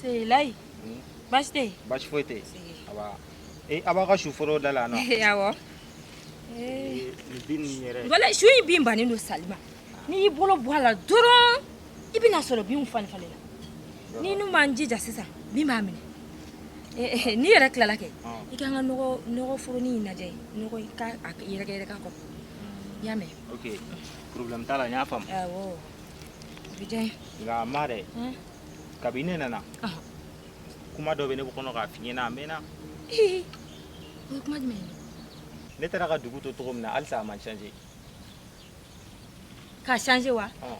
C'est là. Basi tɛ yen. Basi foyi tɛ yen. Awa. Ee aw b'aw ka su foro da la yan nɔ. Awɔ. Ee nin bin ninnu yɛrɛ. Walayi su in bin bannen don sali ma. N'i y'i bolo bɔ a la dɔrɔn. i bɛna sɔrɔ binw falen falenna ni ne ma n jija sisan bin b'a minɛ n'i yɛrɛ tilala kɛ i ka kan ka nɔgɔ foroni in lajɛ nɔgɔ i ka a yɛrɛkɛ yɛrɛkɛ a kɔrɔ i y'a mɛn ok problème t'a la n y'a faamu awɔ o bɛ diya n ye nka ma dɛ kabi ne nana kuma dɔ bɛ ne kɔnɔ k'a f'i ɲɛna a mɛnna o ye kuma jumɛn ye ne taara ka dugu to cogo min na halisa a ma changer K'a changer wa? Ɔn!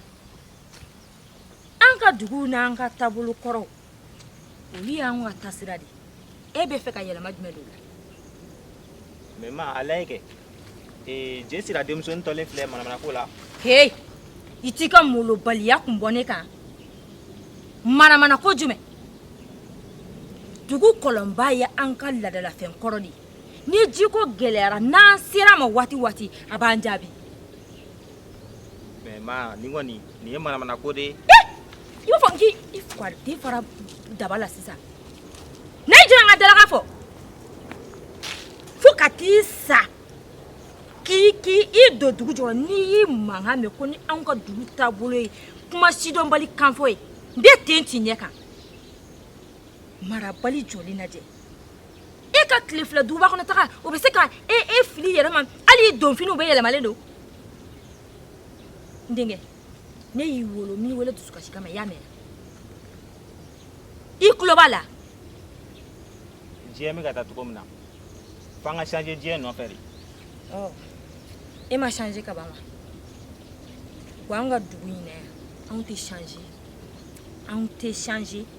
An ka dugu n'an ka taabolo kɔrɔw, olu y'an ka taasira de ye. E bɛ fɛ ka yɛlɛma jumɛn don u la? Mais ma, a lajɛ kɛ, ee je sira denmusonin tolen filɛ manamana ko la. Heyi! I t'i ka molobaliya kun bɔ ne kan. Manamana ko jumɛn? Dugu kɔlɔnba ye an ka laadalafɛn kɔrɔ de ye. ni ji ko gɛlɛyara n'an ser'a ma waati waati a b'an jaabi mais ma nin kɔni nin ye manamana ko de ye i b'a fɔ k'i i fari den fara daba la sisan n'a y'i jira n ka dalaga fɔ fo ka t'i sa k'i k'i i don dugu jukɔrɔ ni n y'i mankan mɛn ko ni anw ka dugu taabolo ye kuma sidɔnbali kanfɔ ye n bɛ ten t'i ɲɛ kan marabali jɔlen lajɛ e ka tile fila duguba kɔnɔ taga o bɛ se ka e e fili i yɛrɛ ma hali i donfiniw bɛɛ yɛlɛmalen don n denkɛ ne y'i wolo n m'i wele dusukasi kama i y'a mɛn i tulo b'a la diɲɛ bɛ ka taa cogo min na f'an ka changer diɲɛ nɔfɛ de ɔ e ma changer ka ban wa wa an ka dugu in na yan anw tɛ changer anw tɛ changer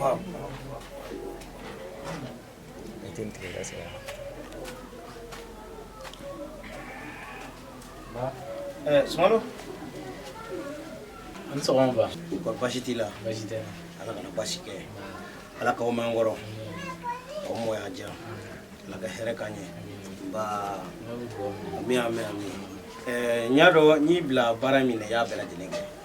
Awɔ. Eh, Sumano? A ni sɔgɔma. Nba. Ko basi t'i la? Basi tɛ. Ala kana basi kɛ. Ala k'aw mɛn n kɔrɔ. Aw mɔ y'a diya. Ala ka hɛrɛ k'an ye. Nba. Ami ami ami. Eh, n y'a dɔn n y'i bila baara min na i y'a bɛɛ lajɛlen kɛ.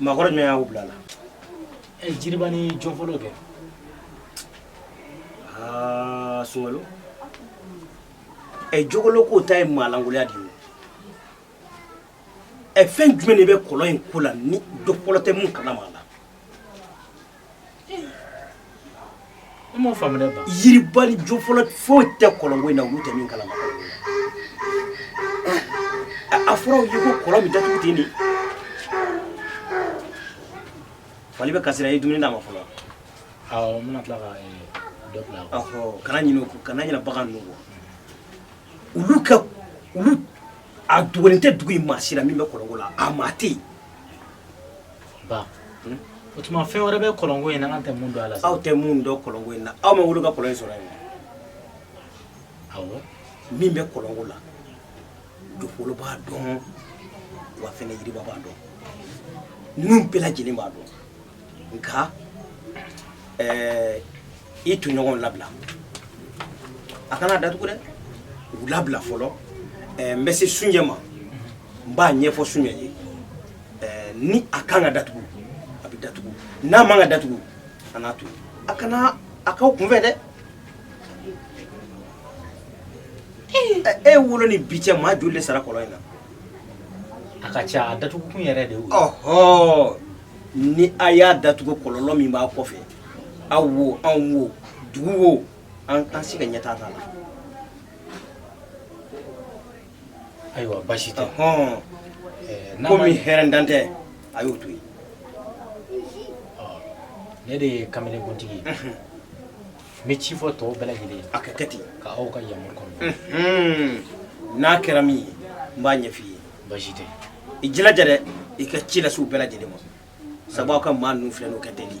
Maakɔrɔ jumɛn y'aw bila la ɛ jiriba ni jofolo kɛ aa sungalo ɛ jogolo k'o ta ye maalankolonya de ye ɛ fɛn jumɛn de bɛ kɔlɔn in ko la ni jofolo tɛ mun kalama a la Fɔlɔ foyi tɛ kolonko na tɛ min kala a fɔra fali bɛ kasi i ye dumuni' ma fɔlɔ kana kana bagan olu a dugu tɛ dugu in maa si la min bɛ kolonko la a maa tɛ yen ba hmm? o tuma fɛn wɛrɛ bɛ kɔlɔnko in na an tɛ mun dɔn a la aw tɛ mun dɔn kɔlɔnko in na aw ma wolo ka kɔlɔn in sɔrɔ yan awɔ min bɛ kɔlɔnko la jofolo b'a dɔn wa fɛnɛ yiriba b'a dɔn ninnu bɛɛ lajɛlen b'a dɔn nka i tɔɲɔgɔnw labila a kana datugu dɛ u labila fɔlɔ n bɛ se sunjɛ ma n b'a ɲɛfɔ sunjɛ ye eh, ni a kan ka datugu a bɛ datugu n'a man ka datugu a n'a to a kana a k'aw kunfɛ dɛ e wolo ni bi cɛ maa joli de sara kɔlɔn in na a ka ca a datugukun yɛrɛ de y'o ye ɔhɔ ni a y'a datugu kɔlɔlɔ min b'a kɔfɛ aw wo anw wo dugu wo an an si ka ɲɛtaa t'a la ayiwa basi tɛ hɔn komi hɛrɛ dan tɛ a y'o to yen ne de ye kamelekuntigi ye n bɛ ci fɔ tɔw bɛɛ lajɛlen ye a ka kɛ ten ka aw ka yamaru kɔnɔ n'a kɛra min ye n b'a ɲɛf'i ye basi tɛ i jilaja dɛ i ka ci lase u bɛɛ lajɛlen ma sabu aw ka maa ninnu filɛ n'o ka teli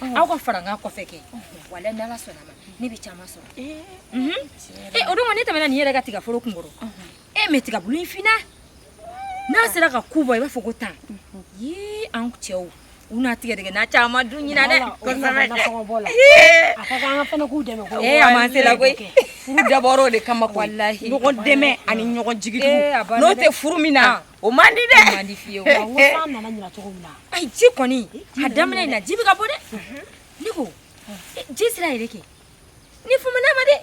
aw ka fara n ka kɔfɛ kɛ walayi ni ala sɔnna ma ne bɛ caman sɔrɔ ee o don ne tɛmɛna nin yɛrɛ ka tiga foro kun kɔrɔ e mɛ tiga bulu in finna n'a sera ka ku bɔ i b'a fɔ ko tan yee an cɛw u na tigadɛgɛna caman dun ɲinan dɛ kosɛbɛ dɛ a ka kan an fana k'u dɛmɛ ko ee a ma se la koyi furu dabɔra o de kama koyi ɲɔgɔn dɛmɛ ani ɲɔgɔn jigi n'o tɛ furu min na o man di dɛ o man di fiyewu wa n ko san nana ɲinan cogo min na ayi ji kɔni a daminɛ in na ji bɛ ka bɔ dɛ ne ko ji sira yɛrɛ kɔni famana n ma dɛ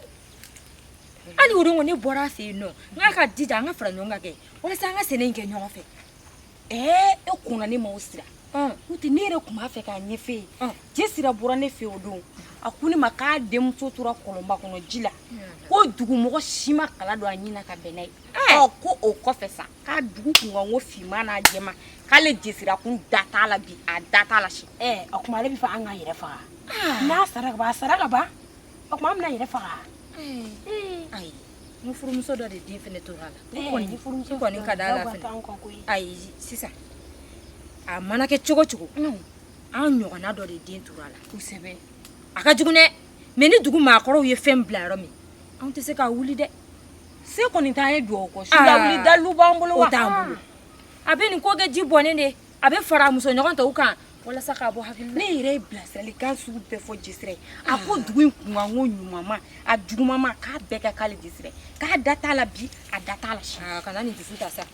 hali o don ko ne bɔra a fɛ yen nɔ n k'a ka jija an ka fara ɲɔgɔn kan kɛ walasa an ka sɛnɛ in kɛ ɲɔgɔn fɛ ɛɛ e kɔnna ne ma o sira n'o tɛ ne yɛrɛ tun b'a fɛ k'a ɲɛf'e ye ji sira bɔra ne fɛ o don a ko ne ma k'a denmuso tora kɔlɔnba kɔnɔ ji la ko dugumɔgɔ si ma kala don a ɲin na ka bɛn n'a ye ɔ ko o kɔfɛ sa k'a dugu kunkanko finman n'a jɛman k'ale jesira kun da t'a la bi a da t'a la si ɛ o tuma ale b'a fɛ an k'an yɛrɛ faga n'a sara ka ban a sara ka ban o tuma an bɛn'an yɛrɛ faga ayi n furumuso dɔ de den fɛnɛ tora a la n kɔni n kɔni ka d'a la fɛnɛ ayi sisan a mana kɛ cogo cogo an ɲɔgɔnna dɔ de den tora a la kosɛbɛ a ka jugu dɛ mɛ ni dugu maakɔrɔw ye fɛn bila yɔrɔ min anw tɛ se k'a wuli dɛ se kɔni t'an ye dugawu kɔ su lawuli dalilu b'an bolo wa o t'an bolo a bɛ nin ko kɛ ji bɔnnen de a bɛ fara muso ɲɔgɔn tɔw kan walasa k'a bɔ hakili la ne yɛrɛ ye bilasiralikan sugu bɛɛ fɔ jesira ye a ko dugu in kunkan ko ɲumanma a jugumanma k'a bɛɛ kɛ k'ale jesira k'a da t'a la bi a da t'a la sini ah, kana nin dusu ta sa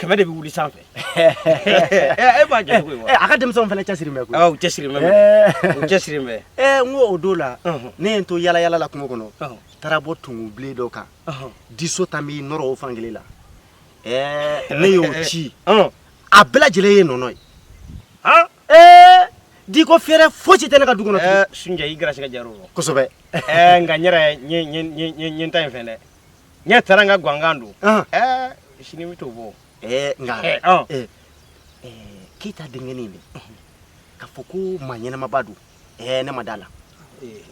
kɛmɛ de bɛ wuli sanfɛ e b'a jate koyi wa a ka denmisɛnw fana cɛsiri bɛ koyi u cɛsiri bɛ u cɛsiri bɛ ɛ n ko o don la ne ye n to yala yala la kungo kɔnɔ taara bɔ tungu bilen dɔ kan diso tan b'i nɔrɔ o fan kelen la ɛɛ ne y'o ci a bɛɛ lajɛlen ye nɔnɔ ye di ko fɛrɛ fosi tɛ ne ka du kɔnɔ sunjɛ i gɛrɛsɛgɛ jar'o rɔ kosɛbɛ nka n yɛrɛ n ye n ta in fɛ dɛ ne taara n ka gwangan don ɛɛ sini n bɛ t'o bɔ ɛɛ nka ɛɛ keyita denkɛnin de k'a fɔ ko maa ɲɛnamaba don ɛɛ ne ma d'a la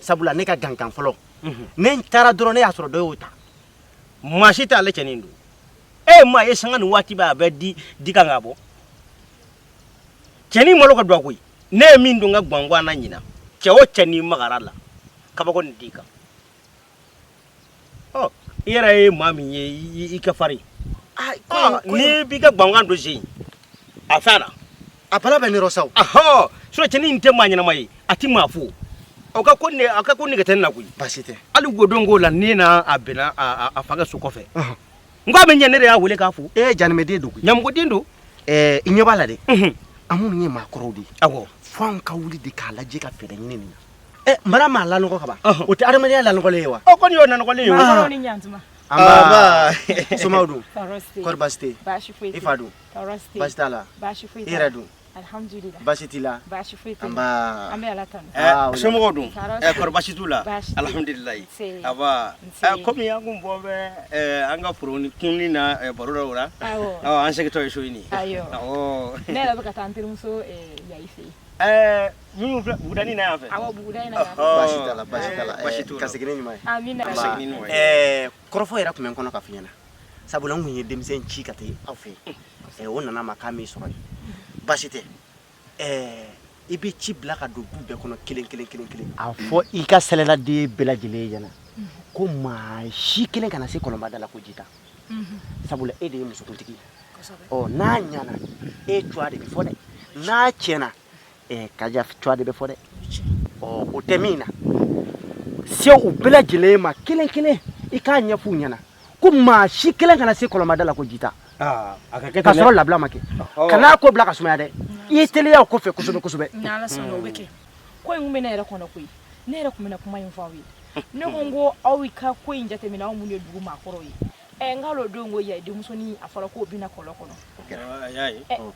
sabula ne ka gwangan fɔlɔ ne n taara dɔrɔn ne y'a sɔrɔ dɔ y'o ta maa si tɛ ale cɛnin don e ye maa ye sanga ni waati bɛɛ a bɛ di kan ka bɔ cɛnin malo ka dɔgɔ koyi ne ye min don n ka gwangan na ɲinan cɛ o cɛ n'i magara a la kabako nin d'i kan i yɛrɛ ye maa min ye i ka farin n'i b'i ka gwangan don sen a fɛn na a bala bɛ nɔrɔ sa ahɔ sɔ cɛnin in tɛ maa ɲɛnama ye a tɛ maa fo a ka ko ne a ka ko nege tɛ n na koyi baasi tɛ hali godon k'o la ne n'a bɛnna a fa ka so kɔfɛ n k'a bɛ ɲɛ ne de y'a wele k'a fo ee janimɛden don koyi ɲamɔgɔden don ɛɛ i ɲɛ b'a la dɛ an minnu ye maakɔrɔw de ye awɔ fo an ka wuli de k'a lajɛ ka fɛɛrɛ ɲini nin na Eh, mara maa lanɔgɔ ka ban o tɛ adamadenya lanɔgɔlen ye wa o kɔni y'o nanɔgɔlen ye o ni ɲantuma somaaw dun kɔri baasi tɛ yen i fa dun baasi t'a la i yɛrɛ dun baasi t'i la somɔgɔw dun kɔri baasi t'u la alihamudulilayi nba kɔmi an kun bɔ bɛ an ka foronin kunni na baro dɔ la an segintɔ ye so ɲini ne yɛrɛ bɛ ka taa n terimuso yayi fɛ yen Minnu filɛ bugudanin na yan fɛ. Awɔ buguda in na yan fɛ. Ɔhɔɔ. Baasi t'a la baasi t'a la. Ɛɛ, Baasi t'u la. ka segin ni ɲuman ye. Amina. Ka segin ni ɲuman ye. Ɛɛ, kɔrɔfɔ yɛrɛ tun bɛ n kɔnɔ ka f'i ɲɛna sabula n tun ye denmisɛn ci ka taa aw fɛ yen Ɛɛ, o nana n ma k'a m'i sɔrɔ yen baasi tɛ Ɛɛ, i bɛ ci bila ka don du bɛɛ kɔnɔ kelen kelen kelen kelen a fɔ i ka sɛlɛladen bɛɛ lajɛlen ɲɛna ko maa si kelen kana se kɔlɔnba da la ko ji ta sabula e de ye musokuntigi ye ɔ n'a ɲana e cua de bɛ fɔ dɛ n'a tiɲɛna ɛɛ kaja cua de bɛ fɔ dɛ ɔ o tɛ min na se u bɛɛ lajɛlen ma kelen kelen i k'a ɲɛf'u ɲɛna ko maa si kelen kana se kɔlɔnba da la ko ji ta ah, ka sɔrɔ labila ma kɛ kan'a ko bila ka sumaya dɛ i ye teliya o kɔfɛ kosɛbɛ kosɛbɛ ko in tun bɛ ne yɛrɛ kɔnɔ koyi ne yɛrɛ tun bɛna kuma in fɔ aw ye ne ko n ko aw ka ko in jateminɛ aw minnu ye dugu maakɔrɔw ye ɛ n k'a don ko yayi denmusonin a fɔra k'o binna kɔlɔn kɔnɔ a y'a ye o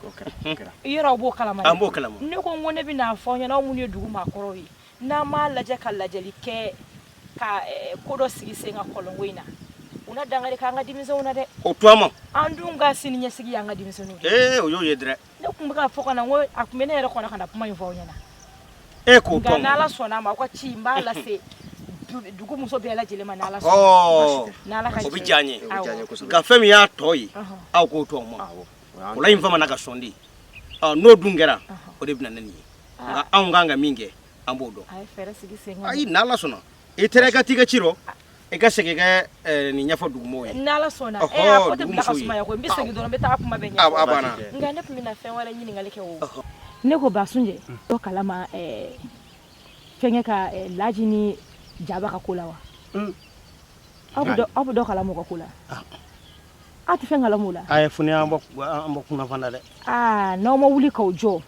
kɛra yɔrɔ aw b'o kalama an b'o kalama ne ko n ko ne bɛ n'a fɔ aw ɲɛna aw minnu ye dugu maakɔrɔw ye n'an m'a lajɛ ka lajɛli kɛ ka ko dɔ sigi sen kan kɔlɔnko in na u na dankari kɛ an ka denmisɛnw na dɛ o to an ma an dun ka siniɲɛsigi y'an ka denmisɛnninw de ye ee o y'o ye dɛrɛ ne tun bɛ ka fɔ ka na ko a tun bɛ ne yɛrɛ kɔnɔ ka na kuma in fɔ aw ɲɛna e k'o nka tɔn n'ala sɔnna a ma aw ka ci n b'a lase du- dugu muso bɛɛ lajɛlen ma n'ala sɔnna ɔ n'ala ka o bɛ diya n ye Awɔ. diya n ye kosɛbɛ. nka fɛn min y'a tɔ ye Ɔhɔ. aw k'o to an ma Awɔ. O y'an o la in famana ka sɔn de ɔ n'o dun kɛra o de bɛ na ni nin ye nka anw kan ka min kɛ an b'o dɔn a ye fɛɛrɛ sigi sen kan ayi n'ala sɔnna i taara i ka t'i ka ci rɔ i ka segin kɛ eh, nin ɲɛfɔ dugumɔgɔw ye n'ala sɔnna Ɔhɔ, ɛ a ko tɛ bila ka dugumuso ye. sumaya koyi n bɛ segin dɔrɔn n bɛ taa kuma bɛɛ a ɲɛfɔ a banna nka ne tun bɛna fɛn wɛrɛ ɲininkali kɛ o ne ko basunjɛ dɔ kalama ɛɛ, fɛnkɛ ka ɛɛ, laji ni jaba ka ko la wa aw bɛ dɔ- aw bɛ dɔ kalama u ka ko la aw tɛ fɛn kalama u la a ye funu an bɔ an bɔ kunafan na dɛ aa n'aw ma wuli k'aw jɔ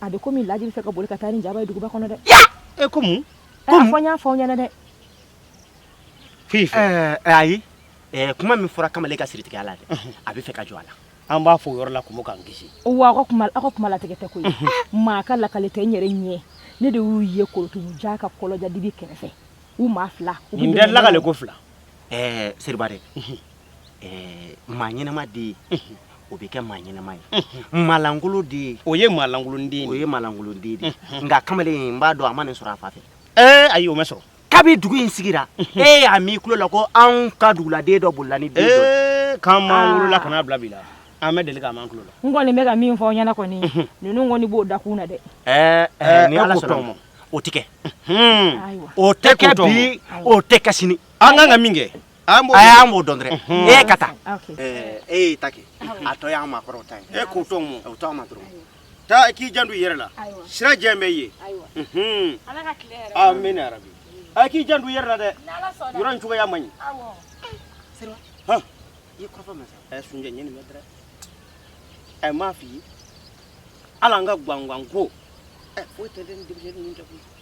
a bɛ komi laji bɛ fɛ ka boli ka taa ni jaba ye duguba kɔnɔ dɛ e ko mun ɛ a fɔ n y'a fɔ aw ɲɛna dɛ fi fɛ ɛɛ ɛɛ, ayi ɛɛ, kuma min fɔra kamalen ka siritigɛya la dɛ a bɛ fɛ ka jɔ a la an b'a fɔ o yɔrɔ la ko ma k'an kisi wa aw ka kuma aw ka kuma latigɛ tɛ koyi maa ka lakale tɛ n yɛrɛ ɲɛ ne de y'u ye korotumu ja ka kɔlɔja dibi kɛrɛfɛ u maa fila u bɛ nin bɛɛ dɛmɛ lakale n'o ye. ko fila ɛɛ seriba dɛ maa ɲɛnama de ye o bɛ kɛ maa ɲɛnama ye maalankolon de ye o ye maalankolon den o ye maalankolon den de nka kamalen n b'a dɔn a ma nin sɔrɔ a fa fɛ ɛɛ ayi o ma sɔrɔ kabi dugu in sigira e y'a m'i tulo la ko anw ka duguladen dɔ bolila ni den dɔ k'a m'an wolola ka n'a bila bi la an ma deli k'a m'an tulo la n kɔni bɛ ka min fɔ aw ɲɛna kɔni ninnu kɔni b'o dakun na dɛ ɛɛ ni ala sɔnna o ma o tɛ kɛ o tɛ kɛ bi o tɛ kɛ sini an kan ka min kɛ a y'an b'o dɔn dɛrɛ e ka taa e y'i ta kɛ a tɔ y'an maakɔrɔw ta ye e k'o to an ma o t'an ma dɔrɔn taa k'i janto i yɛrɛ la sira jɛn b'i ye amina yarabi a k'i janto i yɛrɛ la dɛ yɔrɔ in cogoya man ɲi seriba hɔn i ye kɔrɔfɔ mɛn sa ɛ sunjɛ ɲɛ nin bɛ dɛrɛ ɛ n m'a f'i ye hali an ka gwangwan ko ɛ foyi tɛ dɛ ni denmisɛnnin ninnu tɛ koyi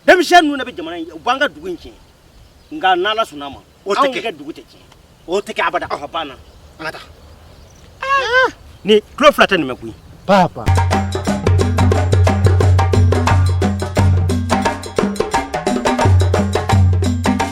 denmisɛn ninnu de bɛ jamana in u b'an ka dugu in tiɲɛ nka n'ala sɔnna a ma o tɛ kɛ anw ka dugu tɛ tiɲɛ o tɛ kɛ abada a banna an ka taa ah! ne tulo fila tɛ nin mɛn koyi papa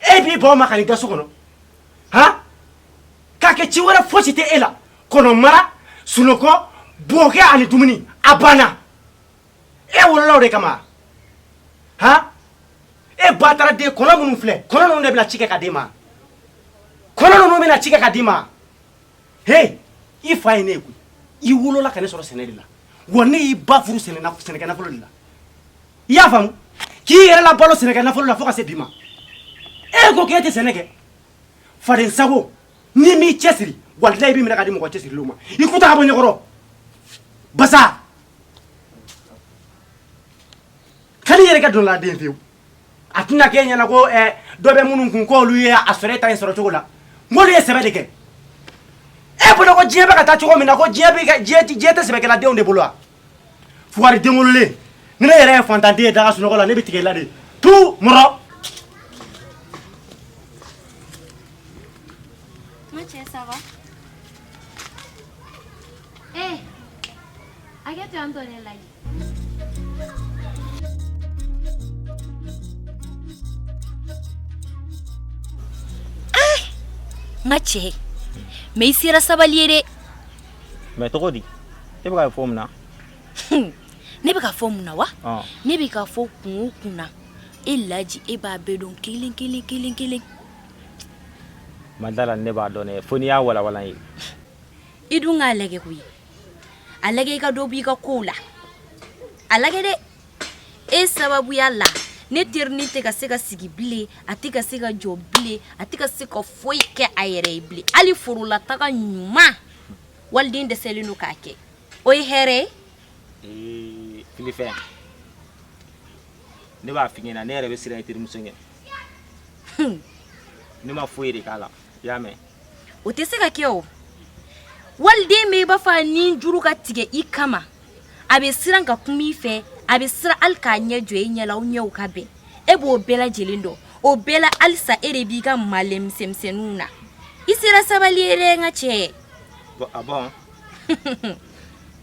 e b'i baw ma ka n'i da so kɔnɔ han k'a kɛ ci wɛrɛ fosi tɛ e la kɔnɔmara sunɔgɔ bokɛ ani dumuni a banna e wolola o de kama han e bataraden kɔnɔ minnu filɛ kɔnɔ ninnu de bɛna ci kɛ ka d'e ma kɔnɔ ninnu bɛna ci kɛ ka d'i ma he i fa ye ne ye koyi i wolola ka ne sɔrɔ sɛnɛ de la wa ne y'i ba furu sɛnɛ na- sɛnɛkɛ nafolo de la i y'a faamu k'i yɛrɛ labalo sɛnɛkɛ nafolo la fo ka se bi ma e ko k'e tɛ sɛnɛ kɛ fadensago n'i m'i cɛsiri walayi n b'i minɛ ka di mɔgɔ cɛsirilenw ma i ku ta ka bɔ n ɲɛkɔrɔ basa kali yɛrɛ kɛ dɔnla den fewu a tɛna k'e ɲɛna ko eh, dɔ bɛ minnu kun k'olu ye a sɔrɔ e ta in sɔrɔ cogo la n k'olu ye sɛbɛ de kɛ e bolo ko diɲɛ bɛ ka taa cogo min na ko diɲɛ bɛ ka- diɲɛ tɛ- diɲɛ tɛ sɛbɛkɛladenw de bolo wa fugari den wololen ni ne yɛrɛ ye faantanden ye da ka sunɔgɔ la ne bɛ tigɛ i la dɛ tu mɔrɔ Macɛ, ça va Eh, hakɛ to yan tɔ ne lajɛ. Macɛ mais i sera sabali ye dɛ mais tɔgɔ di e bɛ k'a fɔ mun na ne bɛ k'a fɔ mun na wa ne bɛ k'a fɔ kun kun na e laji e b'a bɛɛ dɔn kelen kelen kelen kelen n ma d'a la ne b'a dɔn fo n'i y'a walawala n ye i dun k'a lajɛ koyi a lajɛ i ka dɔ b' i ka ko la a lajɛ dɛ e sababuya la ne teri nin tɛ ka se ka sigi bilen a tɛ ka se ka jɔ bilen a tɛ ka se ka foyi kɛ a yɛrɛ ye bilen hali forola taga ɲuman waliden dɛsɛlen don k'a kɛ o ye hɛrɛ ye filifɛn ne b'a f'i ɲɛna ne yɛrɛ bɛ siran i terimuso ɲɛ ne ma foyi de k'a la i y'a mɛn o tɛ se ka kɛ o waliden bɛ i b'a fɔ a ni juru ka tigɛ i kama a bɛ siran ka kuma i fɛ a bɛ siran hali k'a ɲɛ jɔ e ɲɛ la aw ɲɛw ka bɛn e b'o bɛɛ lajɛlen dɔn o bɛɛ la halisa e de b'i ka malɛmisɛnmisɛnninw na i sera sabali ye dɛ n ka cɛ Bon, ah bon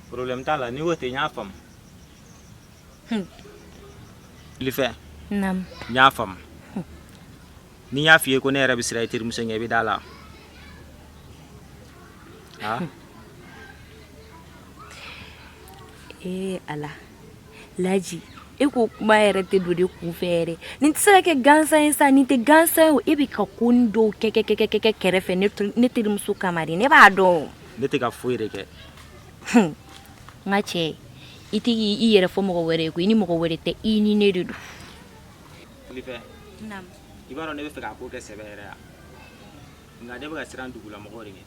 problème t'a la n'i ko ten n y'a faamu Hmm. Filifɛ naamu n y'a faamu Ni n y'a fɔ i ye ko ne yɛrɛ bɛ siran i terimuso ɲɛ i bɛ da a la ee a laji e ko kuma yɛrɛ tɛ don ne kun fɛ nin tɛ se ka kɛ gansan ye sa nin tɛ gansan ye e bɛ ka ko dɔw kɛ kɛrɛfɛ ne terimuso kama ne b'a dɔn ne tɛ ka foyi yɛrɛ kɛ n ka cɛ i tɛ k' i yɛrɛ fɔ mɔgɔ wɛrɛ ye ko i ni mɔgɔ wɛrɛ tɛ i ni ne de don Filifɛ i b'a dɔn ne bɛ fɛ k'a ko kɛ sɛbɛ yɛrɛ ye nka ne bɛ ka siran dugulamɔgɔw de ɲɛ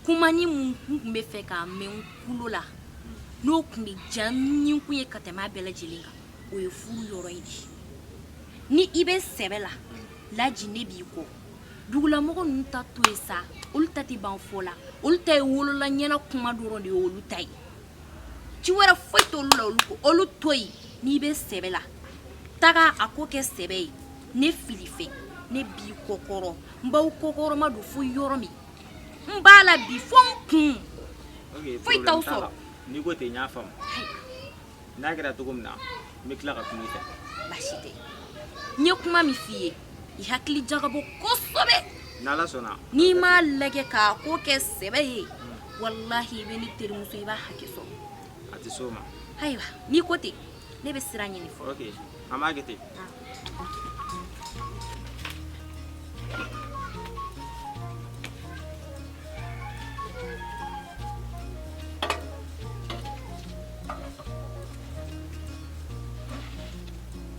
kuma ni mun tun bɛ fɛ k'a mɛn kulo la n'o tun bɛ diya ne kun ye ka tɛmɛ a bɛɛ lajɛlen kan o ye furu yɔrɔ ye dɛ ni i bɛ sɛbɛ la laji ne b'i kɔ dugulamɔgɔ ninnu ta to yen sa olu ta tɛ ban fɔ la olu ta ye wolola ɲɛna kuma dɔrɔn de ye olu ta ye ci wɛrɛ foyi t'olu la olu to yen n'i bɛ sɛbɛ la taga a ko kɛ sɛbɛ ye ne Filifɛ ne b'i kɔkɔrɔ n b'aw kɔkɔrɔmadon fo yɔrɔ min n b'a la bi fo n kun foyi t'aw sɔrɔ n'i ko ten n y'a faamu n'a kɛra cogo min na n bɛ tila ka kuma i fɛ baasi tɛ n ye kuma min f'i ye i hakili jagabɔ kosɛbɛ n'ala sɔnna n'i m'a lajɛ k'a ko kɛ sɛbɛ ye walahi i bɛ ne terimuso i b'a hakɛ sɔrɔ a tɛ s'o ma ayiwa n'i ko ten ne bɛ sira ɲini fɔlɔ ok an b'a kɛ ten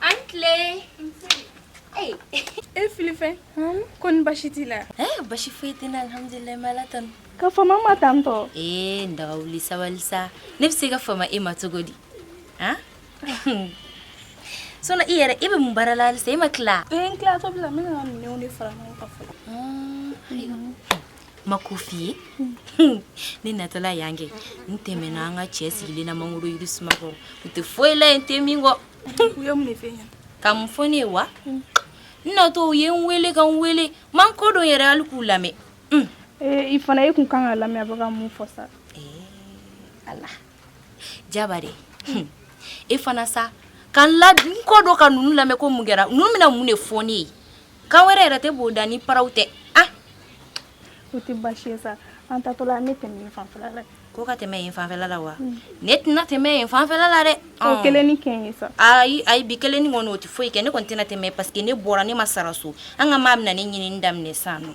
A ni tile e Filifɛ koni basi t'i la basi foyi tɛ alihamdulilayi Ala tanu ka fama tantɔ ee n daga wuli sabali sa ne bɛ se ka fama e ma cogo di a Sona i yɛrɛ e bɛ mun baara la halisa e ma tila e tila fara m'a ko f'i ye ne natɔla yan kɛ n tɛmɛna an ka cɛ sigilen na mangoro yiri suma kɔrɔ u tɛ foyi la yen te min kɔ ka mun fɔ ne ye wa n natɔ u ye n weele ka n weele man ko dɔ yɛrɛ hali k'u lamɛn i fana e tun kan k'a lamɛn a bɛ ka mun fɔ sa Ala jaba de e fana sa ka n ko dɔ ka ninnu lamɛn ko mun kɛra ninnu bɛna mun de fɔ ne ye kan wɛrɛ yɛrɛ tɛ b'o da ni paraw tɛ ah o tɛ baasi ye sa an taatɔla an bɛ tɛmɛ yen fanfɛla la ko ka tɛmɛ yen fanfɛla la wa ne tɛna tɛmɛ yen fanfɛla la dɛ o kelennin kɛ n ye sa ayi ayi bi kelennin kɔni o tɛ foyi kɛ ne kɔni tɛna tɛmɛ parce que ne bɔra ne ma sara so an ka maa bɛna ne ɲinini daminɛ sisan nɔ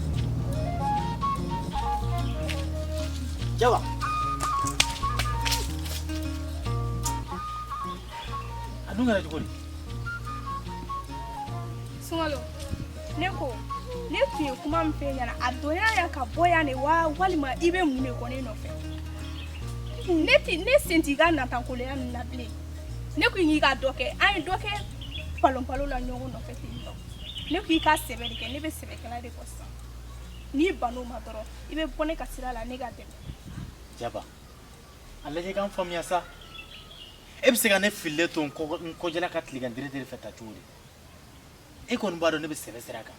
Jaba. A dun kɛra cogo di? Sunkalo, ne ko ne tun ye kuma min f'e ɲɛna a donna yan ka bɔ yan de wa walima i bɛ mun de kɔ ne nɔfɛ? Ne ti ne sen t'i ka natankoloya ninnu na bilen. Ne ko k'i ka dɔ kɛ, an ye dɔ kɛ palonpalo la ɲɔgɔn nɔfɛ ten tɔ. ne ko i ka sɛbɛ de kɛ ne bɛ sɛbɛkɛla de kɔ sisan n'i ban'o ma dɔrɔn i bɛ bɔ ne ka sira la ne ka tɛmɛ jaba a lajɛ ka n faamuya sa e bɛ se ka ne fililen to n kɔ- n kɔjɛla ka tilegan deredere fɛ tan cogo di e kɔni b'a dɔn ne bɛ sɛbɛ sira kan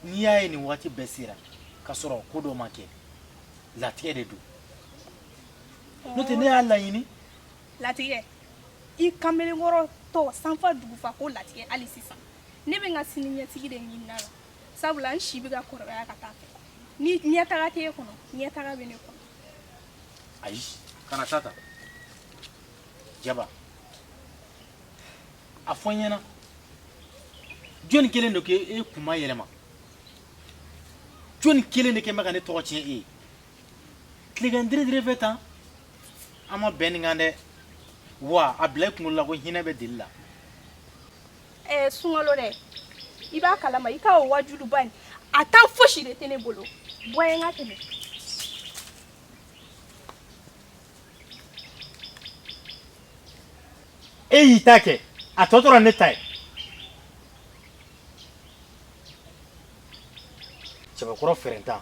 n'i y'a ye nin waati bɛɛ sera ka sɔrɔ ko dɔ ma kɛ latigɛ de don n'o tɛ ne y'a laɲini latigɛ i kamalenkɔrɔ tɔ sanfa dugufa ko latigɛ hali sisan ne bɛ n ka sini ɲɛsigi de ɲinini la sabula n si bɛ ka kɔrɔbaya ka t'a fɛ ni ɲɛtaga t'e kɔnɔ ɲɛtaga bɛ ne kɔnɔ ayi kana taa ta jaba a fɔ n ɲɛna jɔni kɛlen don k'e kun mayɛlɛma jɔni kelen de kɛlen bɛ ka ne tɔgɔ tiɲɛ e ye tilegan dire dire fɛ tan an ma bɛn nin kan dɛ wa a bila i kunkolo la ko hinɛ bɛ deli la ɛɛ sunkalo dɛ i b'a kalama i ka o waajuliba in a tan fosi de tɛ ne bolo bɔ yen n ka tɛmɛ e y'i ta kɛ a tɔ tora ne ta ye cɛbakɔrɔ fɛɛrɛntan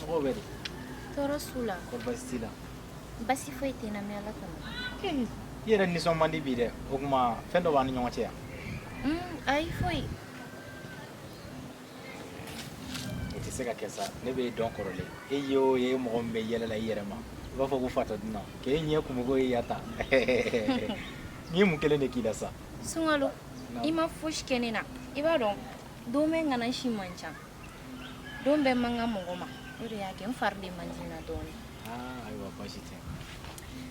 mɔgɔw bɛ di tɔɔrɔ t'u la kɔri baasi t'i la baasi foyi tɛ n na mais ala kama i yɛrɛ nisɔn man di bi dɛ o tuma fɛn dɔ b'an ni ɲɔgɔn cɛ yan ayi foyi o tɛ se ka kɛ sa ne b'e dɔn kɔrɔlen e ye o ye mɔgɔ min bɛ yɛlɛ la i yɛrɛ ma i b'a fɔ ko fatɔ dunan k'e ɲɛ kumuko ye yata ne ye mun kelen de k'i la sa sunkalo i ma fosi kɛ ne na i b'a dɔn don bɛɛ ŋana si man ca don bɛɛ man kan mɔgɔ ma o de y'a kɛ n fari de man di n na dɔɔnin aa ayiwa baasi tɛ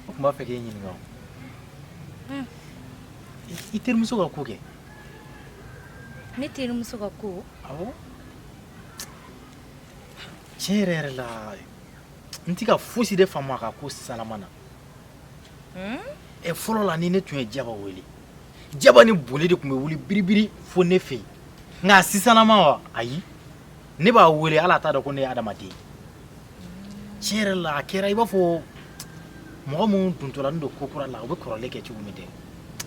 n tun b'a fɛ k'e ɲininka o hmm. i terimuso ka ko kɛ ne terimuso ka ko awɔ tiɲɛ yɛrɛ yɛrɛ la n tɛ ka fosi de faamu a ka ko salama na hmm? ɛ fɔlɔ la ni ne tun ye jaba wele jaba ni boli de tun bɛ wuli biribiri fo ne fɛ yen nka a sisannama wa ayi ne b'a wele hali a t'a dɔn ko ne ye adamaden tiɲɛ yɛrɛ la a kɛra i b'a fɔ mɔgɔ minnu dontɔlen don ko kura la u bɛ kɔrɔlen kɛ cogo min tɛ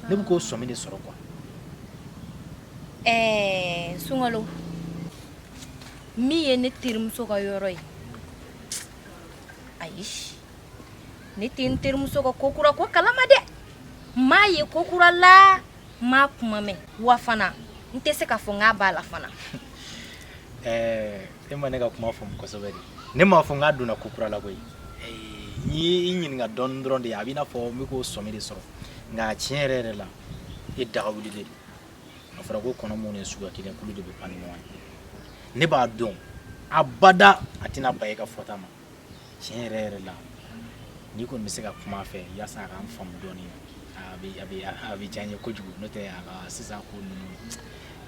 ne bɛ k'o sɔmi de sɔrɔ quoi ɛɛ sunkalo min ye ne terimuso ka yɔrɔ ye ayi ne tɛ n terimuso ka ko kura ko kalama dɛ n m'a ye ko kura la n m'a kuma mɛn wa fana n tɛ se k'a fɔ n k'a b'a la fana eh, e ma ne ka kuma faamu kosɛbɛ de ne m'a fɔ n k'a donna ko kura la koyi eh, n y'i ɲininka dɔɔni dɔrɔn de a b'i n'a fɔ n bɛ k'o sɔmi de sɔrɔ nka tiɲɛ yɛrɛ yɛrɛ la e daga wuli de a fɔra ko kɔnɔ minnu ye suguya kelen ye olu de bɛ pan ni ɲɔgɔn ye ne b'a dɔn abada a tɛna ban e ka fɔta ma tiɲɛ yɛrɛ yɛrɛ la n'i kɔni bɛ se ka kuma a fɛ yaasa a k'an faamu dɔɔnin a bɛ a bɛ a bɛ diya n ye kojugu n'o tɛ a ka sisan ko ninnu n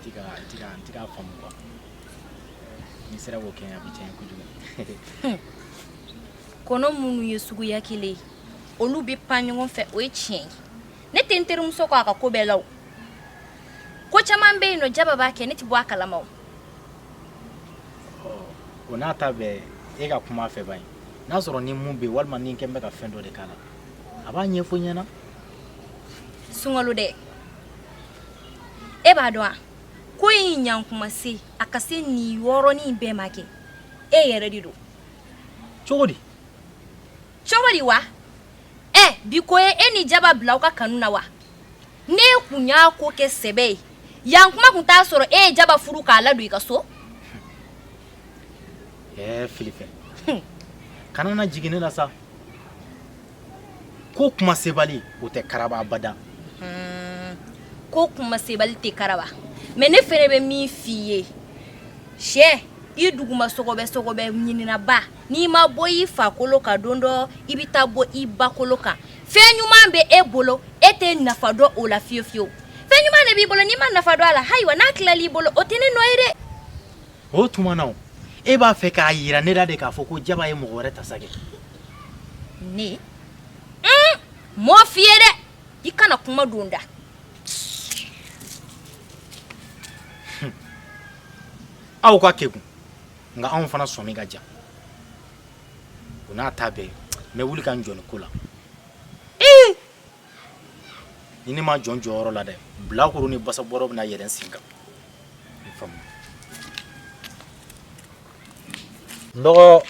tɛ ka n tɛ ka n tɛ k'a faamu quoi n'i sera k'o kɛ a bɛ diya n ye kojugu. kɔnɔ minnu ye suguya kelen ye olu bɛ pan ɲɔgɔn fɛ o ye tiɲɛ ye ne tɛ n terimuso kɔ a ka ko bɛɛ la o ko caman bɛ yen nɔ jaba b'a kɛ ne tɛ bɔ a kalama o o n'a ta bɛɛ e ka kuma a fɛ bani n'a sɔrɔ ni mun bɛ yen walima ni n kɛ n bɛ ka fɛn dɔ de k'a la a b'a ɲɛfɔ n ɲɛna sunkalo dɛ e b'a dɔn a ko in n'a kuma sera ka se nin yɔrɔnin bɛɛ ma kɛ e yɛrɛ de don cogo di cogo di wa ɛ bi ko ye e ni jaba bila aw ka kanu na wa n'e tun y'a ko kɛ sɛbɛ ye yan kuma tun t'a sɔrɔ e ye jaba furu k'a ladon i ka so filifɛn kana na jigin ne la sa ko kuma sebali o tɛ karaba abada ko kuma sebali tɛ karaba mais ne fɛnɛ bɛ min f'i ye cɛ i duguma sɔgɔbɛ sɔgɔbɛ ɲininaba N'i ma bɔ i fa kolo kan don dɔ i bɛ taa bɔ i ba kolo kan fɛn ɲuman bɛ e bolo e tɛ nafa dɔn o la fiyewu fiyewu fɛn ɲuman de b'i bolo n'i ma nafa dɔn a la ayiwa n'a tilal'i bolo o tɛ ne nɔ ye dɛ o tuma na e b'a fɛ k'a yira ne la de k'a fɔ ko jaba ye mɔgɔ wɛrɛ ta sa kɛ ne m'o f'i ye dɛ i kana kuma don n da aw ka kɛ nka anw fana sɔmi ka jan o n'a ta bɛɛ n bɛ wuli ka n jɔ nin ko la ni ne ma jɔ n jɔyɔrɔ la dɛ bilakoro ni basabɔrɔ bɛna yɛlɛn n sen kan i faamu n dɔgɔ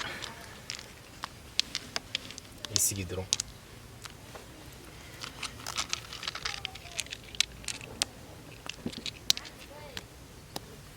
i sigi dɔrɔn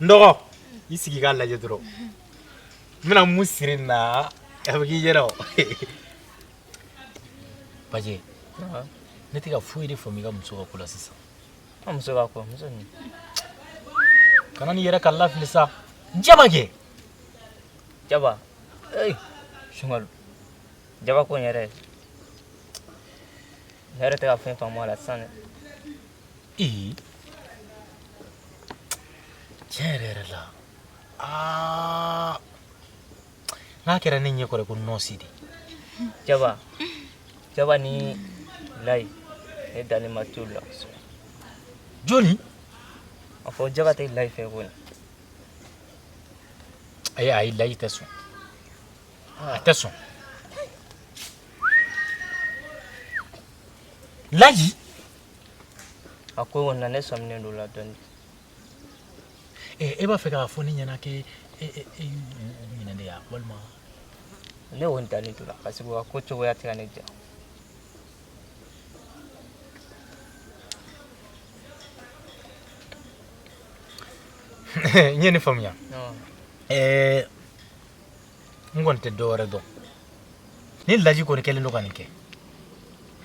Dɔgɔ i sigi k'a lajɛ dɔrɔn n bɛna mun siri nin na a bɛ k'i ɲɛna pa ne tɛ ka foyi de faamu i ka muso ka ko la sisan muso kana ne yɛrɛ ka lafili sa jaba kɛ jaba sunka jaba ko n yɛrɛ ne yɛrɛ tɛ ka fɛn faamu a la sisan dɛ Ee tiɲɛ yɛrɛ yɛrɛ la aa n'a kɛra ne ɲɛ kɔrɔ ko nɔɔsi de jaba jaba ni layi ne dalenba t'olu la kosɛbɛ jɔni a fɔ jaba tɛ layi fɛ kɔni ayi ayi layi tɛ sɔn a tɛ sɔn layi a ko kɔni na ne sɔminen don la dɔɔni e b'a fɛ k'a fɔ ne ɲɛna k'e ɲinɛ de ya walima ne y'o dalen to la parce que a ko cogoya tɛ ka ne diya n ye nin faamuya n kɔni tɛ dɔ wɛrɛ dɔn ni laji kɔni kɛlen don ka nin kɛ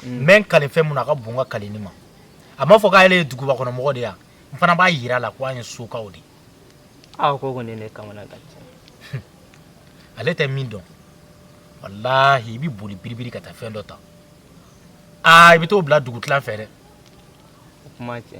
n bɛ n kale fɛn min na a ka bon n ka kaleni ma a m'a fɔ k'ale ye duguba kɔnɔ mɔgɔ de ye wa n fana b'a yira a la ko an ye sokaw de ye a ko kɔni ne kamanagan cɛ ale tɛ min dɔn walahi i bɛ boli biribiri ka taa fɛn dɔ ta aa i bɛ t'o bila dugutilan fɛ dɛ o kuma cɛ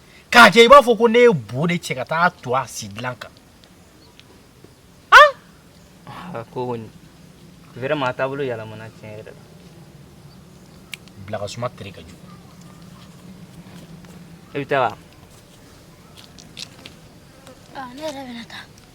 k'a kɛ i b'a fɔ ko ne ye bo de cɛ ka taa to a sidilan kan ah, ko kɔni vraiment a taabolo yɛlɛmana tiɲɛ yɛrɛ la bilakasuma tere ka jugu e bɛ taa wa ah, ne yɛrɛ bɛna taa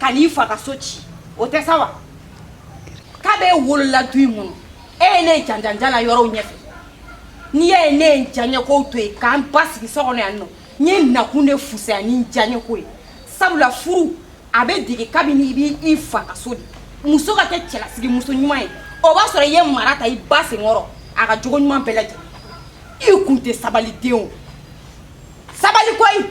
ka n'i fa ka so ci o tɛ sa wa kabi e wolola du in kɔnɔ e ye ne janjanjala yɔrɔw ɲɛfɛ n'i y'a ye ne ye n diyaɲɛkow to yen ka n basigi so kɔnɔ yan nɔ n ye nakun de fusaya ni n diyaɲɛko ye sabula furu a bɛ dege kabini i b'i fa ka so de muso ka kɛ cɛlasigi muso ɲuman ye o b'a sɔrɔ i ye mara ta i ba senkɔrɔ a ka jogo ɲuman bɛɛ lajɛlen i kun tɛ sabali den o sabali koyi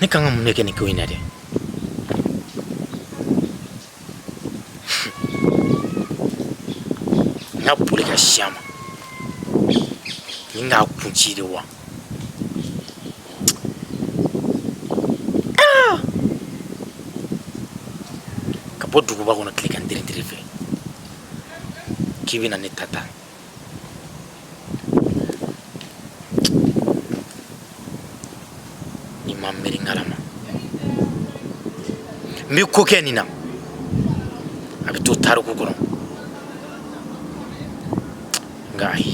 Ne kan ka mun de kɛ nin ko in na dɛ n ka boli ka sin a ma ni n k'a kun ci de wa Ah! ka bɔ duguba kɔnɔ tilegan tiritiri fɛ k'i bɛna ne ta ta ni n ma miiri Ngala ma n bɛ ko kɛ nin na a bɛ to tariku kɔnɔ nka ayi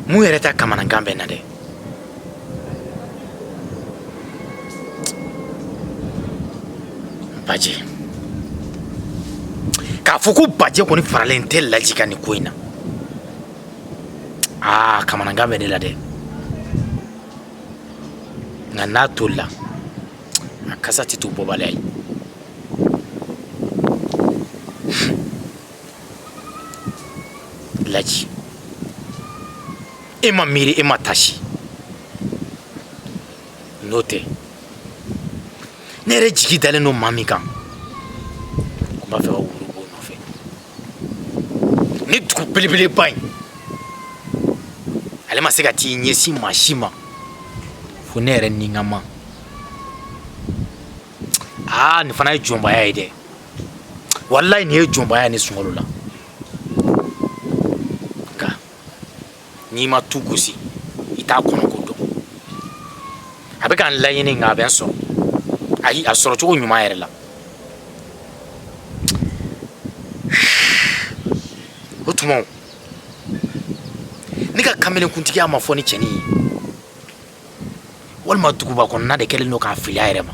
mun yɛrɛ ta kamanagan bɛ n na dɛ baje k'a fɔ ko baje kɔni faralen tɛ laji kan nin ko in na aa ah, kamanagan bɛ ne la dɛ nka n'a tolila a kasa tɛ to bɔbaliya ye laji e ma miiri e ma tasi n'o tɛ ne yɛrɛ jigi dalen don maa min kan ko n b'a fɛ ka woro b'o nɔfɛ nin dugu belebeleba in ale ma se ka t'i ɲɛsin maa si ma fo ne yɛrɛ ni n ka maa aa nin fana ye jɔnbaya ye dɛ walayi nin ye jɔnbaya ne sunkalo la nka n'i ma tu gosi i t'a kɔnɔko dɔn a bɛ ka n laɲini nka a bɛ n sɔrɔ ayi a sɔrɔ cogo ɲuman yɛrɛ la o tuma ne ka kamelenkuntigiya ma fɔ nin cɛnin ye walima duguba kɔnɔna de kɛlen don k'a fili a yɛrɛ ma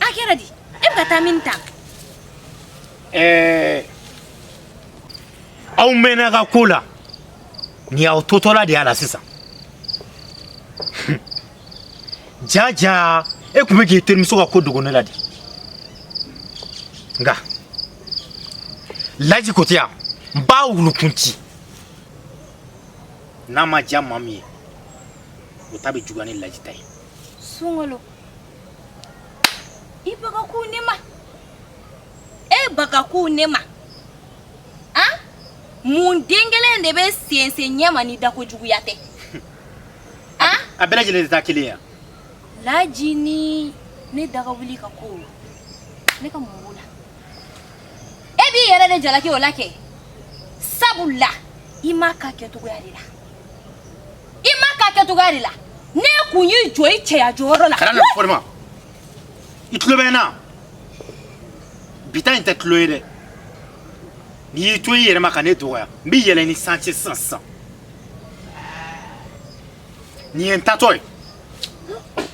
A kɛra di e bɛ ka taa min tan ɛɛ aw mɛnna ka ko la ni y'aw totɔla de y'a la sisan jaa jaa e tun bɛ k'i terimuso ka ko dogo ne la de nka laji ko tɛ yan n b'a wulukun ci n'a ma diya maa min ye o ta bɛ juguya ni laji ta ye sunkalo i b'a kan ko ne ma e b'a kan ko ne ma a mun den kelen de bɛ sensen ɲɛma ni dako juguya tɛ a a bɛɛ lajɛlen de ta kelen ya laji ni ne daga wuli ka ko ne ka mun b'o la e b'i yɛrɛ de jalaki o la kɛ sabula i m'a k'a kɛcogoya de la i m'a k'a kɛcogoya de la n'e kun y'i jɔ i cɛya jɔyɔrɔ la. kana n'a fɔ ne ma i tulo bɛ n na bi ta in tɛ tulon ye dɛ n'i y'i to i yɛrɛ ma ka ne dɔgɔya n bɛ yɛlɛn i san cɛ sisan sisan nin ye n taatɔ ye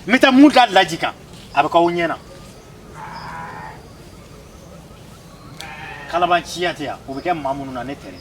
n bɛ taa mun da laji kan a bɛ k'aw ɲɛ na. kalabanciya tɛ yan o bɛ kɛ maa minnu na ne tɛ dɛ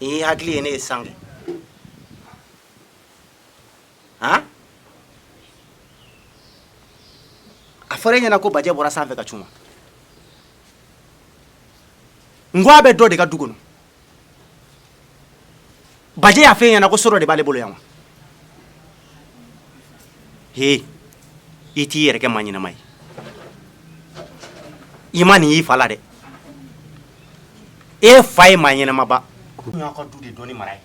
i ye hakili ye ne ye san kɛ han a fɔra e ɲɛna ko bajɛ bɔra sanfɛ ka cun wa n ko a bɛ dɔ de ka du kɔnɔ bajɛ y'a fɔ e ɲɛna ko so dɔ de b'ale bolo yan wa he i t'i yɛrɛ kɛ maa ɲɛnama ye i ma nin y'i fa la dɛ e fa ye maa ɲɛnamaba ka du de dɔnni mara ye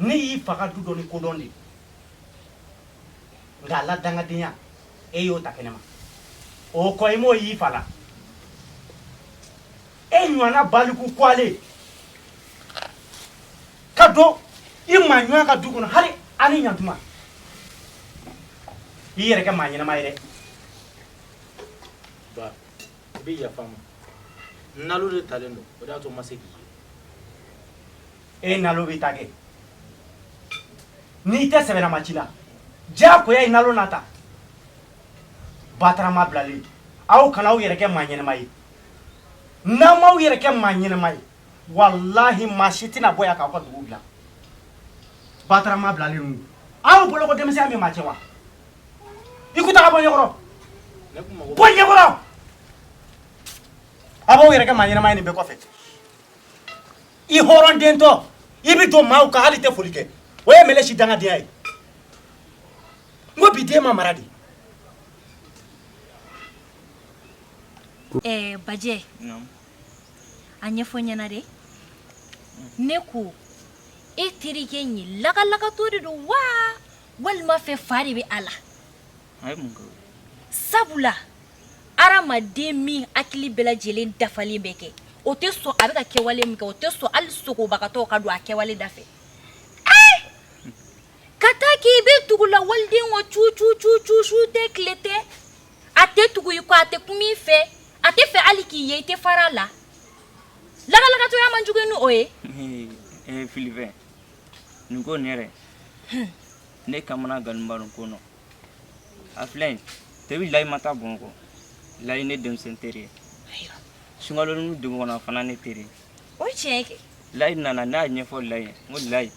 ne y'i fa ka du donni ko dɔn de nka ala dangadenya e y'o ta kɛnɛ ma o kɔ i m'o y'i fa la e ɲɔgɔnna baliku kɔgɔlen ka don i maa ɲɔgɔn ka du kɔnɔ hali ani ɲantuma i yɛrɛ kɛ maa ɲɛnama ye dɛ ba i bɛ yafa n ma nalo de talen don o de y'a to n ma se k'i ye e nalo bɛ ta kɛ n'i tɛ sɛbɛnama ci la diyagoya i nalo na ta bataramaa bilalen aw kana aw yɛrɛ kɛ maa ɲɛnama ye n'aw m'aw yɛrɛ kɛ maa ɲɛnama ye walahi maa si tɛna bɔ yan k'aw ka dugu bila bataramaa bilalen ninnu aw bolo ko denmisɛnya bɛ maa cɛn wa i ko taa ka bɔ n ɲɛkɔrɔ bɔ n ɲɛkɔrɔ a b'aw yɛrɛ kɛ maa ɲɛnama ye nin bɛɛ kɔfɛ i hɔrɔn dentɔ i bɛ don maaw kan hali i tɛ foli kɛ o ye mɛlɛ si dangadenya ye n ko bi den ma mara de Ɛɛ bajɛ a ɲɛfɔ ɲɛna dɛ ne ko e terikɛ in ye lagalagatɔ de don wa walima fɛ fa de bɛ a la sabula adamaden min hakili bɛɛ lajɛlen dafalen bɛ kɛ o tɛ sɔn a bɛ ka kɛwale min kɛ o tɛ sɔn hali sogobagatɔ ka don a kɛwale da fɛ ka taa k'i bɛ tugu la waliden o cu cu cu cu su tɛ tile tɛ a tɛ tugu i kɔ a tɛ kuma i fɛ a tɛ fɛ hali k'i ye i tɛ fara a la lagalagatɔya man jugu ni o ye ee filifɛ nin ko nin yɛrɛ ne kamana gannenba don ko nɔ a filɛ yen depi layi ma taa bamakɔ layi ne denmisɛn teri ye sunkalo nin dugu kɔnɔ fana ne teri ye o ye tiɲɛ kɛ layi nana ne y'a ɲɛfɔ layi ye n ko layi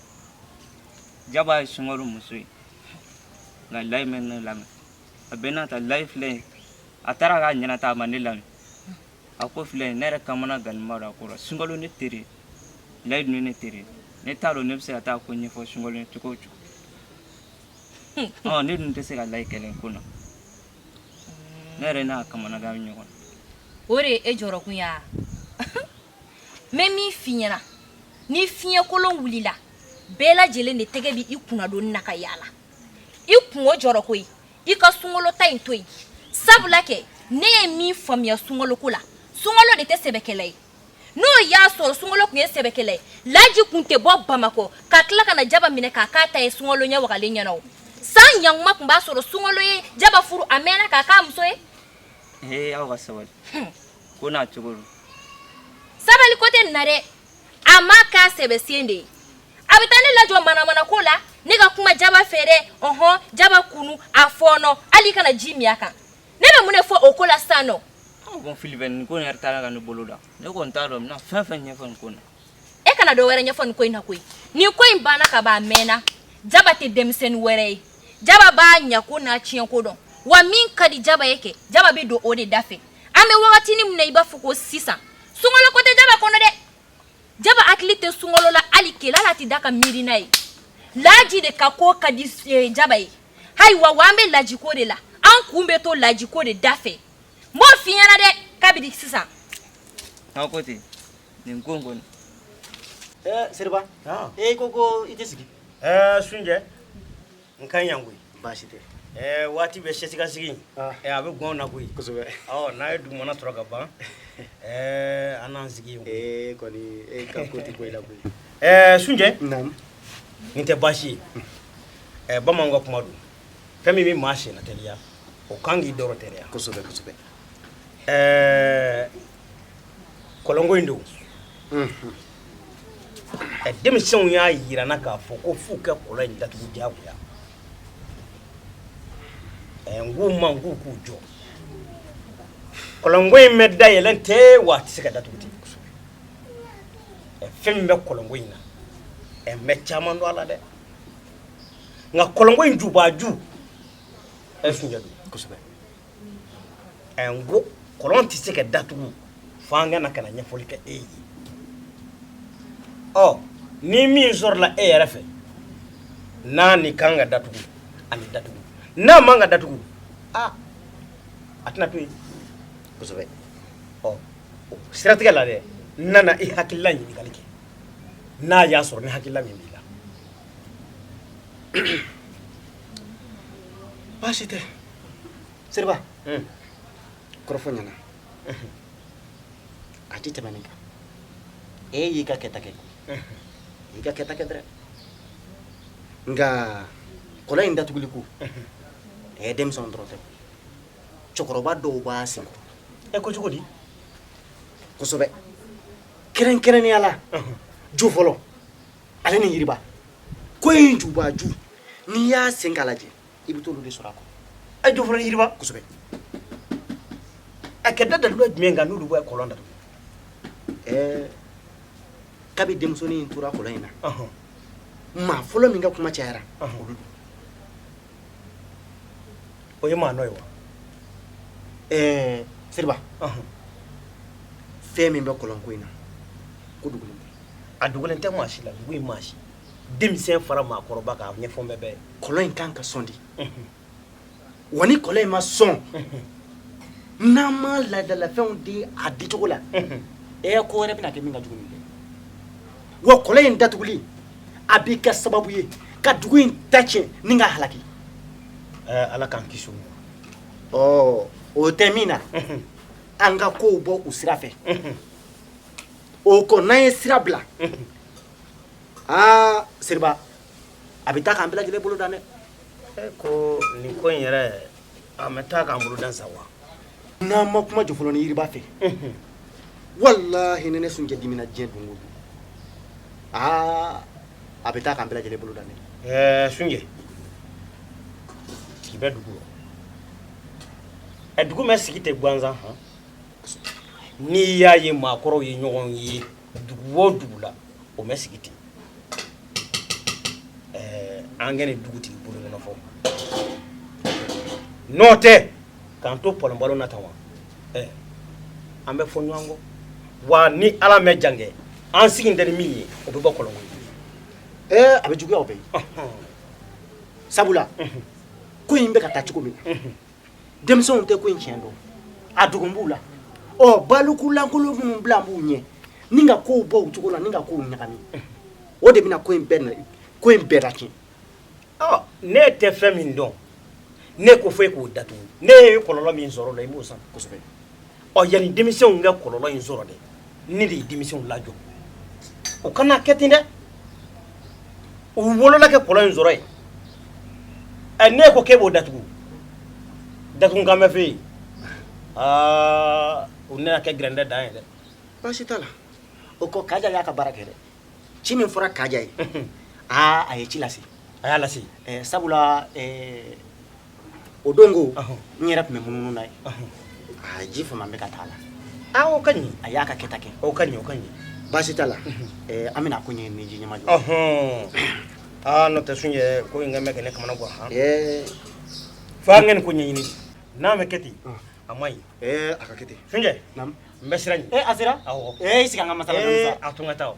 jaba ye sunkalo muso ye nka layi ma ne lamɛn a bɛ n'a ta layi filɛ ye a taara k'a ɲɛna ta a ma ne lamɛn a ko filɛ ne yɛrɛ kamana gannenba don a ko la sunkalo ne teri ye layi dun ye ne teri ye ne t'a dɔn ne bɛ se ka taa ko ɲɛfɔ sunkalo ye cogo o cogo ne dun tɛ se ka layi kɛlɛ ko na ne yɛrɛ n'a kamana gan ɲɔgɔn o de ye e jɔrɔkun ye n bɛ min f'i ɲɛna ni fiɲɛkolon wulila bɛɛ lajɛlen de tɛgɛ bɛ i kunnadoni na ka yaala i kun o jɔrɔ koyi i ka sunkalo ta in to yen sabula kɛ ne ye min faamuya sunkalo ko la sunkalo de tɛ sɛbɛkɛla ye n'o y'a sɔrɔ sunkalo kun ye sɛbɛkɛla ye laji kun tɛ bɔ bamakɔ ka tila ka na jaba minɛ k'a k'a ta ye sunkalo ɲɛ wagalen ɲɛna o san ɲankuma kun b'a sɔrɔ sunkalo ye jaba furu a mɛnna k'a k'a muso ye. ee aw ka sabali ko n'a cogo don. sabali ko tɛ nin na dɛ a m'a k'a sɛbɛsen de ye. a bɛ taa ne lajɔ manamana ko la ne ka kuma jaba fɛ dɛ ɔhɔn jaba kunu a fɔɔnɔ hali kana ji min a kan ne bɛ mun de fɔ o ko la sisan nɔ bon filifɛ nin ko in yɛrɛ taara ka ne bolo dan ne kɔni t'a dɔn n bɛna fɛn fɛn ɲɛfɔ nin ko in na e kana dɔ wɛrɛ ɲɛfɔ nin ko in na koyi nin ko in banna ka ban a mɛnna jaba tɛ denmisɛnnin wɛrɛ ye jaba b'a ɲako n'a tiɲɛko dɔn wa min ka di jaba ye kɛ jaba bɛ don o de da fɛ an bɛ wagatinin min na i b'a fɔ ko sisan sunkalo ko tɛ jaba kɔnɔ dɛ jaba hakili tɛ sunkalo la hali kelen a tɛ da ka miiri n'a ye laji de ka ko ka di eh, jaba ye ayiwa wa an bɛ lajiko de la an kun bɛ to lajiko de da fɛ n b'o f'i ɲɛna dɛ kabini sisan aw ko ten nin ko in kɔni eh, siriba e ko ko i tɛ sigi eh, sunjɛ n ka ɲi yan koyi baasi tɛ ɛɛ waati bɛɛ sɛsikansigi ah. ɛɛ a bɛ gɔn n na koyi kosɛbɛ ɔ n'a ye dugumana sɔrɔ ka ban ɛɛ an n'an sigi yen ee kɔni e ka ko tɛ bɔ i la koyi ɛɛ sunjɛ nin tɛ baasi ye ɛɛ bamananw ka kuma don fɛn min bɛ maa senna teliya o kan k'i darɔ teliya kosɛbɛ kosɛbɛ ɛɛ kɔlɔnko in don ɛ denmisɛnw y'a yira n na k'a fɔ ko f'u ka kɔlɔn in datugu diyagoya ɛ n k'u ma n k'u k'u jɔ kɔlɔnko in ma dayɛlɛn ten wa a tɛ se ka datugu ten ɛ fɛn min bɛ kɔlɔnko in na ɛ n bɛ caman dɔn a la dɛ nka kɔlɔnko in jubaju ɛ sunjɛ don ɛ n ko kɔlɔn tɛ se ka datugu fo an ka na ka na ɲɛfɔli kɛ e ye ɔ ni min sɔrɔla e yɛrɛ fɛ n'a ni kan ka datugu a ni datugu n'a man ka datugu a a tɛna to yen kosɛbɛ ɔ o siratigɛ la dɛ n nana i hakilila ɲininkali kɛ n'a y'a sɔrɔ ni hakilila min b'i la baasi tɛ Seriba kɔrɔfɔ ɲɛna a tɛ tɛmɛn nin kan e y'i ka kɛta kɛ i y'i ka kɛta kɛ dɛrɛ nka kɔlɔn in datuguli ko ɛ denmisɛn dɔrɔn tɛ cɛkɔrɔba dɔw b'a senkɔrɔ ɛ ko cogo di kosɛbɛ kɛrɛnkɛrɛnnenya la jofolo ale ni yiriba ko in jubaju n'i y'a sen k'a lajɛ i bɛ t'olu de sɔrɔ a kɔnɔ ɛ jofolo yiriba kosɛbɛ a kɛra dalilu jumɛn kan n'olu bɛ kɔlɔn datugu ɛɛ kabi denmusonin in tora kɔlɔn in na maa fɔlɔ min ka kuma cayara olu don o ye maa nɔ ye wa ɛɛ seriba fɛn min bɛ kɔlɔnko in na ko dogolen tɛ a dogolen tɛ maa si la dugu in maa si denmisɛn fara maakɔrɔba kan ɲɛfɔ bɛɛ bɛɛ kɔlɔn in kan ka sɔn dɛ wa ni kɔlɔn in ma sɔn n'an ma laadalafɛnw di a dicogo la e ko wɛrɛ bɛna kɛ min ka jugu nin wa kɔlɔn in datuguli a bɛ kɛ sababu ye ka dugu in ta tiɲɛ ni k'a halaki ala k'an kisi o tɛ min na an ka kow bɔ u sira fɛ O ko n'an ye sira bila aa seriba a bɛ taa k'an bila lajɛlen bolo dan dɛ ko nin ko in yɛrɛ an bɛ taa k'an boloda sa wa n'an ma kuma jɔfɔlɔ ni yiriba fɛ walahi ne ne sunjɛ dimina diɲɛ don don aa a bɛ taa k'an bila lajɛlen bolo dan dɛ sunjɛ k'i bɛ dugu ɛ dugu bɛ sigi ten gansan hɔn n'i y'a ye maakɔrɔw ye ɲɔgɔn ye dugu o dugu la o bɛ sigi ten ɛɛ an kɛlen dugutigi bulon kɔnɔ fɔ n'o tɛ k'an to pɔlɔnpɔlɔn na tan wa ɛɛ an bɛ fɔ ɲɔgɔn kɔ wa ni ala mɛ jan kɛ an sigi tɛ ni min ye o bɛ bɔ kɔlɔnko ɛɛ a bɛ juguya o bɛ yen sabula ko in bɛ ka taa cogo min na denmisɛnw tɛ ko in tiɲɛ dɔn a dogolen b'u la ɔ baliku lankolon minnu bilalen b'u ɲɛ ni ka kow bɔ u cogo la ni ka kow ɲagami o de bɛna ko in bɛɛ na ko in bɛɛ lacɛn ɔ ne tɛ fɛn min dɔn ne ko fɔ e k'o datugu ne ye kɔlɔlɔ min sɔrɔ a la i b'o san kosɛbɛ ɔ yanni denmisɛnw ka kɔlɔlɔ in sɔrɔ dɛ ne de ye denmisɛnw lajɔ o kana kɛ ten dɛ u wolola kɛ kɔlɔlɔ in sɔrɔ yen ɛ ne ko k'e b'o datugu datugu kan bɛ fɛ yen aa o nana kɛ gɛrɛndɛ dan ye dɛ baasi t'a la o kɔ kaja y'a ka baara kɛ dɛ ci min fɔra kaja ye aa a ye ci lase a y'a lase sabula o don ko n yɛrɛ tun bɛ munumunu n'a ye aa ji fama bɛ ka taa la aa o ka ɲi a y'a ka kɛta kɛ o ka ɲi o ka ɲi baasi t'a la ɛɛ an bɛna ko ɲɛɲini k'i ɲɛmajɔ aa n'o tɛ sunjɛ ko in kɛ bɛ ka ne kamana gan han fo an ka nin ko ɲɛɲini n'a bɛ kɛ ten a ma ɲi ɛɛ a ka kɛ ten sunjɛ naamu n bɛ sira ɲini ee a sera awɔ ee i sigi an ka masala aa a to n ka taa o